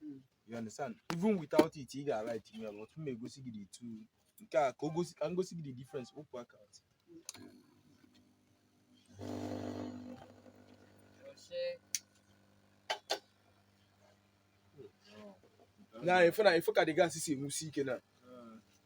hmm. you understand even without it ị ga-light it but m egosi gị the two nke a ka o gosi ka m gosi gị the difference okwu aka ntị na ife na ife ka the gas si enwusi ike na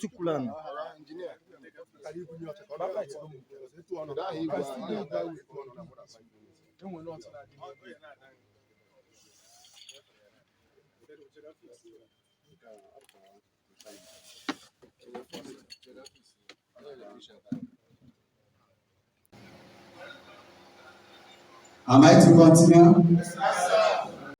Tukulani. Am I to continue?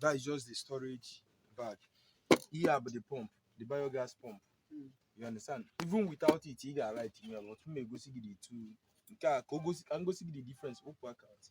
that is just the storage bag ihe a bụ the pump the biogas pump Mm. you understand even without it ị ga-light it but m egosi gị the two nke a ka o gosi ka m gosi gị the difference okwu aka ntị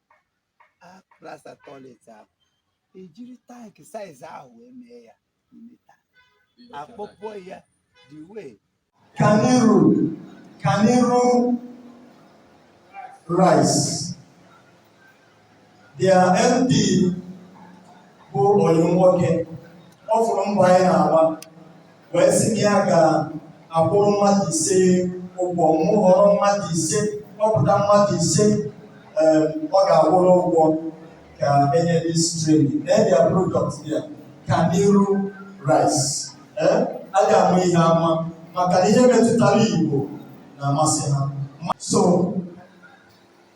plaster toilet ahụ e jiri tank size ahụ wee mee ya n'ime tank akpọpụọ ya ndị nwe Ọganiru Ọganiru rice their MD bụ onye nwoke ọ fụrụ mbọ anyị na-agba wee sị na ya ga-akwụrụ mmadụ ise ụgwọ mụ họrọ mmadụ ise kpọpụta mmadụ ise ee, ọ ga-akwụrụ ụgwọ ka e nye this training their product ya Ọganiru rice ee a ga-ama ihe ama maka na ihe metụtara Igbo na-amasị ha so